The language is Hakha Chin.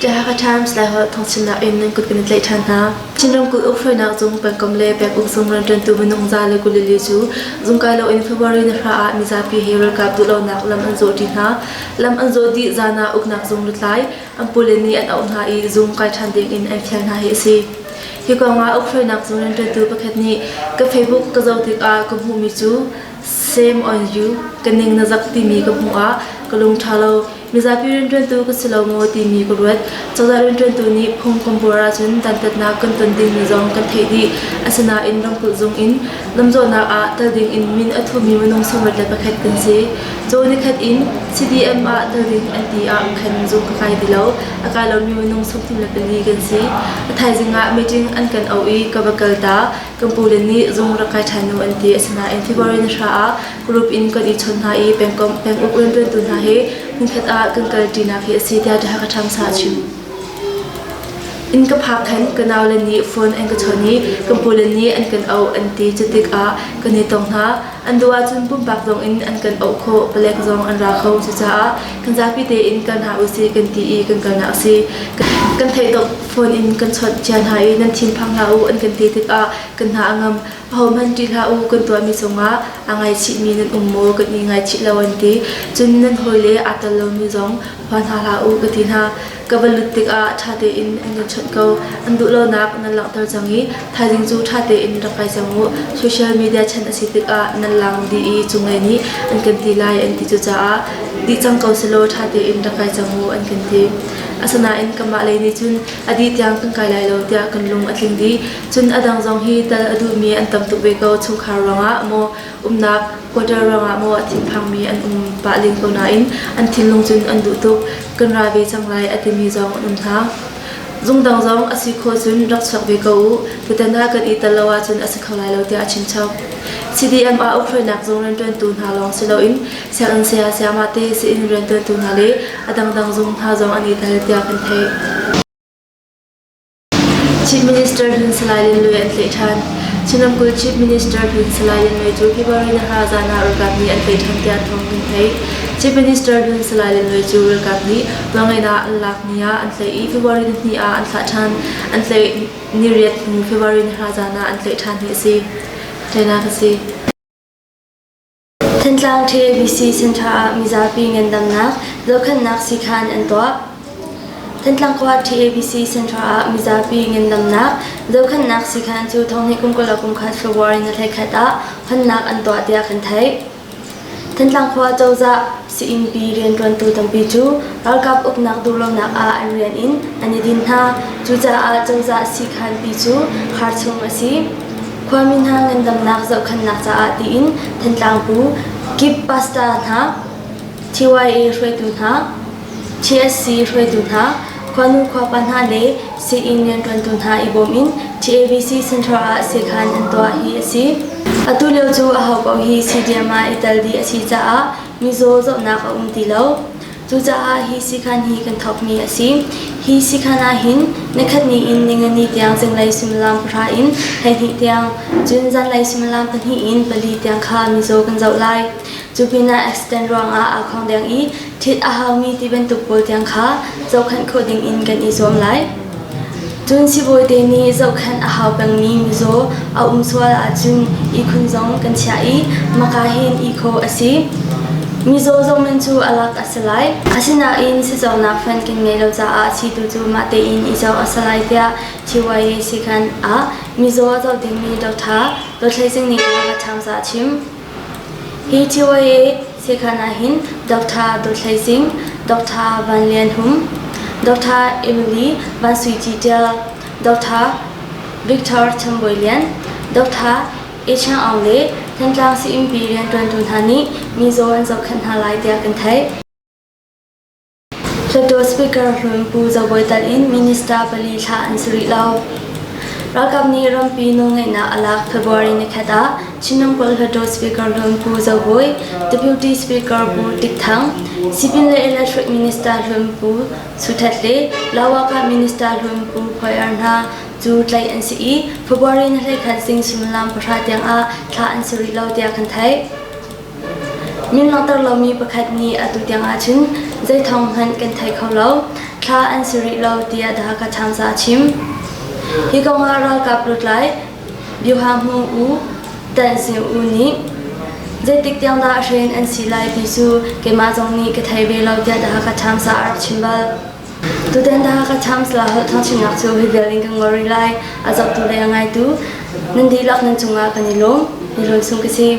Oaxaca Times le Holh thawngchimnak in nan kut kan i tlaih ṭhan hna. Chin ramkulh ukhreunak zung pengkomh le penguk zung rawlṭantu minung za le kulili cu zungkai loin February ni hra ah mizapi he ralkap duhlonak lam an zawh ṭi hna. Lam an zawh dih zan ah uknak zung lutlai an pule nih an auh hna i zung kai ṭhan dingin an fial hna hi a si. Hi kongah uk hruainak zung rianṭuantu pakhat nih ka Facebook ka zoh tikah ka hmuhmi cu Same on you, ka ning na zak timi ka hmuh ah ka lungṭha lo. Mizapi rianṭuantu ka si lo maw timi ka ruat. Cozah rianṭuantu nih phungkam buar ahcun dantatnak kan ton dingmi zong kan theih dih. Asinain ramkulh zung in lamzawhnak ah kal dingin min a thumi minung sunglaṭle pakhat kan si. Caw nikhat in CDM ah Tallinn IT ah khan zuk ka kai ti lo. A kai lomi minung sukthum le pali kan si. A thaizing ah meeting an kan auh i ka va kal ta. Kan pu le nih zung rak kai ṭhan nu an ti. Asinain February ni hra ah group in kan i chawnh hna i pengkomh penguk rianṭuantu hna he nikhat ah kan kal ṭinak hi a si tiah The Hakha Times ha a chim. In ka phak khan ka nau le nih phone an ka chawnh i kan pu le nih an kan auh an ti. Cu tikah kan i tong hna. An duh ahcun pumpak zong in an kan auh khawh, palek zong an ra kho. Cucaah kan zapi tein kal hna usih kan ti i kan kalnak a si. Kan theih phone in kan chawnh cia hna i nan thinphang hlah u an kan ti tikah kan hna a ngam. Ahohmanh ṭih hlah u kan tuahmi cungah aa ngaichihmi nan um maw kan i ngaichih lo an ti. Cun nan hawile aa tel lomi zong hua hna hlah u ka ti hna. ka va lut tikah ṭha tein an in chawnh ko an duh lonak nan langhter cang i thaizing cu ṭha tein rak kai cang u social media chan a si tikah nan lang dih i cunglei nih an kan ti lai an ti cucaah dih cang ko selaw ṭha tein rak kai cang u an kan ti asinain kanmah lei nih cun a dih tiang kan kai lai lo tiah kan lung a tling dih cun a dang zong hi tal a duhmi an tam tuk ve ko chungkhar ruangah maw umnak quarter ruangah maw thinphangmi an um pah len ko nain an thinlung cun an duh tuk kan ra ve cang lai a timi zong an um hna. Zungdang zong a si kho cun rak chuak ve ko u tutan ah kan i tel lo ahcun a si kho lai lo tiah a chimchap. CDM ah ukhrainak zung rianṭuantu hna lawng si loin sianginn saya sayama te si-inn rianṭuantu hna le a dangdang zung hna zong an i tel tiah kan theih. Chief Minister Phun Salai Lin Lwe an tleh ṭhan. Chin ramkulh Chief Minister Phun Salai Lin Lwe cu February ni hra zan ah ralkap nih an tleh ṭhan tiah thawng kan theih. Chief Minister Phun Salai Lin Lwe cu ralkap nih nawlngaihnak an lak ni ah an tleh i February ni hnih ah an thlah ṭhan. An tleh ni riat hnu February ni hra zan ah an tleh ṭhan hi a si. Teinak a si. Thantlang Ṭhe VC Center ah mizapi ngandamnak dohkhannak siikhan an tuah. Thantlang khua Ṭhe VC Center ah mizapi ngandamnak dohkhannak siikhan cu Thonghnih kum kula kum khat February ni thla khat ah honnak an tuah tiah kan theih. Thantlang khua cozah Saingpi rianṭuantu tampi cu ralkap uknak duhlonak ah an rian in an i din hna. Cucaah cozah sikhanpi cu har chung a si. Khuami hna ngandamnak zohkhenhnak caah tiin Thantlang Pu Kip Pasta hna, TYA hruaitu hna, TSC hruaitu hna, Khuanu khuapa hna le sii-inn rianṭuantu hna i bawm in TAVC Central ah seekhan an tuah hi a si. Atu lio cu aho paoh hi CDM ah i tel dih a si caah mizaw zohnak a um ti lo. Cucaah hi siikhan hi kan thawkmi a si. Hi siikhan ah hin nikhatni in ningani tiang zinglei suimilam pahra in hleihnih tiang, cun zanlei suimilam pahnih in pali tiang kha mizaw kan zoh lai. Cupinah accident ruangah aa khawng deng i ṭhit a haumi ti bantuk pawl tiang kha zohkhanh khawh dingin kan i zuam lai. Cun sivawite nih zohkhanh a hau pengmi mizaw a um sual ahcun ihkhun zong kan chiah i maka hen ihkhawh a si. Mizaw zohman cu a lak a si lai. Asinain sizawrnak fan kan ngeih lo caah situ cu mah tein i zoh a si lai tiah TYA sikan ah mizaw a zoh dingmi doctor Dawthlei Singh nih a va ṭham ca a chim. Hi CYA sekhan ahhin Doctor Daw Hlei Sing, Doctor Van Lian Hum, Doctor Emily Van Sui Ci Ṭial, Doctor Victor Cham Bawi Lian, Doctor E Chang Aung le Thantlang sayinpi rianṭuantu hna nih mizaw an zohkhenh hna lai tiah kan theih. Hluttaw Speaker hruai Pu Za Bawi Talh in Minister pali thlah an si rih lo. Ralkap nih rampi nawlngeihnak a lak February ni khat ah Chin ramkulh Hluttaw Speaker hruai Pu Zo Bawi, Deputy Speaker Pu Tik Thang, Sipin le Electric Minister hruai Pu Su Htet le Lawakah Minister hruai Pu Khoi Ar hna cu tlaih an si i February ni hlei khat zing sullam pahra tiang ah thlah an si rih lo tiah kan theih. Min langhter lomi pakhat nih atu tiang ahcun zei thawng hmanh kan thei kho lo. Thla an si rih lo tiah The Hakha Times ah a chim. Hi kongah ralkap lutlai Bioha Hmung U Tan Sing U nih zeitik tiang dah a hrin an si lai ti cu keimah zong nih ka thei ve lo tiah The Hakha Times ah a rak chim bal. Tutan The Hakha Times la holh thangchimnak cu hi vial in kan ngol rih lai. A zohtu le a ngaitu nan dihlak nan cungah kan i lawm. I lawm sung ka si.